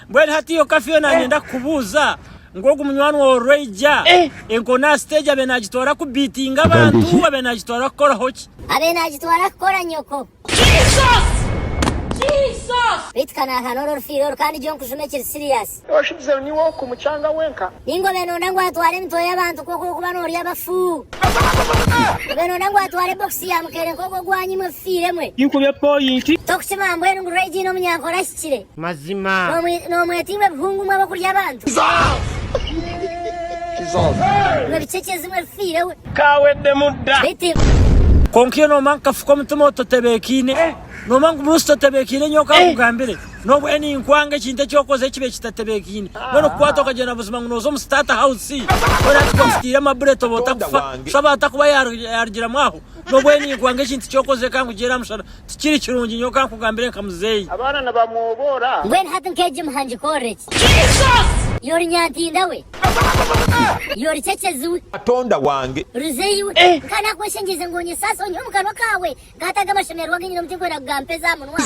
Mbwenu hati yo ka Fiona anyenda kukubuuza ngu ogu munywani waawe orwaija enkooni aha siteegi abe naagitwara kubiitinga abantu abe naagitwara kukoraho ki? Abe naagitwara kukora nyoko. Beitu ka naahana ori orufiire oru kandi gye onkujuma ekiri siriyaasi. Oshubize ngu niiwe orikumucanga wenka? Ninga obe noyenda ngu atware emitwe y'abantu nk'oku orikuba noorya abafu? Obe noyenda ngu atware bokisi ya muceere nk'ogu ogwanyimwe efifiire mwe? Tinkubya pooyinti. Tokukimanya mbwenu ngu Rwaija aine omunyankora ki? abakuhikire. Mazima. Noomwetirwa ebihungu mwe ab'okurya abantu. Mwe bicekyezi mwe bifiire we. Kaaweddemu dda. Baitu. Kwonka iyo noomanya kukafuka omutima ototebeekaine, noomanya ngu munsi totebeekaine nyowe ka nkugambire, n'obuhe ninkwanga ekintu eki okoze kibe kitatebeekaine. Mbwenu kukwata okagyenda buzima ngu nooza omu State House, weena ati kwasitiire amabuleti oba otakufa. Kusha baata kuba yaarugiramu aho. Nobwo oine ninkuha nk'ekintu ky'okozire ka nkugiire aha mushana. Tikiri kirungi nyowe ka nkugambire nka muzeeyi. Abaana nibamwoboora. Mbwenu hati nk'egi muha ngikorre ki? Yo ori nyantinda we! Yo ori cekyezi we! Katonda wange! Ruzeeyi we! Nka nakweshengyereize ngu onyesaase onyihe omu kanwa kaawe? Nkata aga amashemererwa agu nyine omu tinkwenda kugampa ezi aha munwa.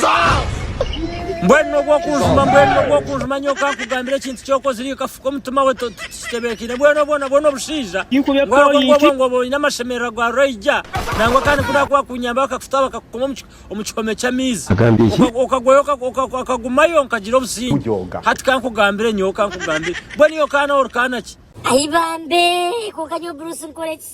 Mbwenu nobwo okunjuma, mbwenu nobwo okunjuma nyowe ka nkugambire ekintu ky'okozire. Ikafuka omutima we, Kitebeekeine bwenu obwo nabwo n'obushaija. Tinkube Ngu hariho ngu obwo point. ngu oba oine amashemererwa gwa Roija nangwa kandi ku naakuba akunyamba bakakuta bakakukoma omu ki- omu kihome ky'amaizi. Agambye enki? Oka- Okagwayo oka- oka- okagumayo nkagira obusingye. Kugyoga. Hati kankugambire nyowe kankugambire. Mbwenu iwe kaana ori kaana ki? Ayi bambe! Kwonka nyowe Bruce nkore ki?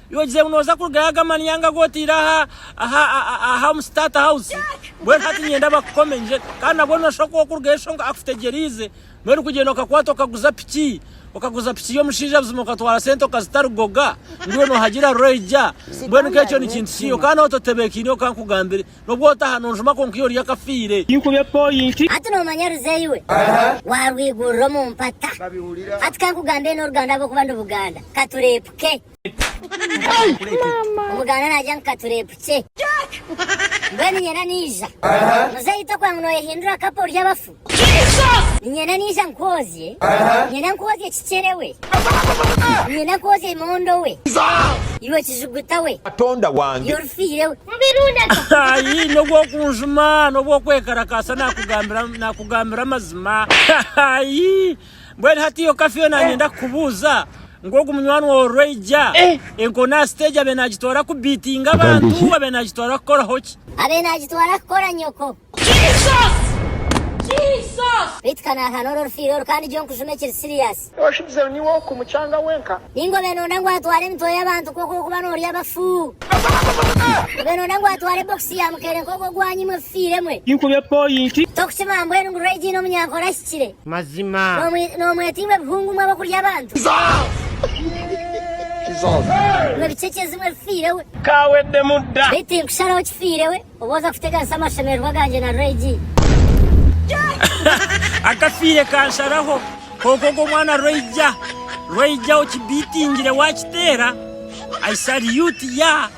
Iwe ogize ngu noza kurugayo aga manyanga agu oteire aha aha aha omu state house mbwenu hati ninyenda bakukome ngye kandi nabwo noshusha ku wokurugayo shonga akutegyereize mbwenu kugyenda okakwata okaguza piki okaguza piki y'omushaija buzima okatwara sente okazitarugoga ngu iwe nohagira ruraija mbwenu nka ekyo nikintu ki okaba nawe totebekeine oka nkugambire nobwo otaha nonjuma konka iyo ori akafiire. Tinkube point. Hati nomanya Ruzeyi we warwigurira omu mpata. Hati kankugambire noruganda ahabwokuba ndi Buganda katurepuke. Omugaana naija nka tureepukye. Mbwenu nyena naija. Muzeeyi tokuba ngu nooyehindura kapa orye abafu. Nyena naija nkwozye. Nyena nkwozye kikyere we. Nyena nkwozye imondo we. Iwe kijuguta we. Katonda wange. Iwe orufiire we. Ayi n'obw'okunjuma n'obw'okwekarakaasa naakugambira amazima. Ayi. Mbwenu hati yo kafeero nanyenda kukubuuza ngu ogu munywani waawe orwaija enko n'aha siteegi abe naagitwara kubiitinga abantu abe naagitwara kukoraho ki? Abe naagitwara kukora nyoko. Beitu ka naaha n'ori orufiire oru kandi gyo nkujuma ekiri siriyaasi. Oshugize ngu niiwe oku mucanga wenka? Ninga obe noyenda ngu atware emitwe y'abantu nk'oku orikuba noorya abafu? Obe noyenda ngu atware bokisi ya muceere nk'ogu ogwanyimwe efifiire emwe? Tinkubye poyinti. Tokukimanya mbwenu ngu Raidy n'omunyankora ki? omuhikire. Mazima. Noomwetiibwa ebihungu mwe ab'okurya abantu. Mwe bicekyezi mwe bifiire we. Kaaweddemu dda. Beitu tinkusharaho kifiire we obu oza kuteganisa amashemererwa gangye na Roigi. Akafiire kansharaho. Kwonka ogwo mwana Roija. Roija okibitingire waakiteera. I salute ya.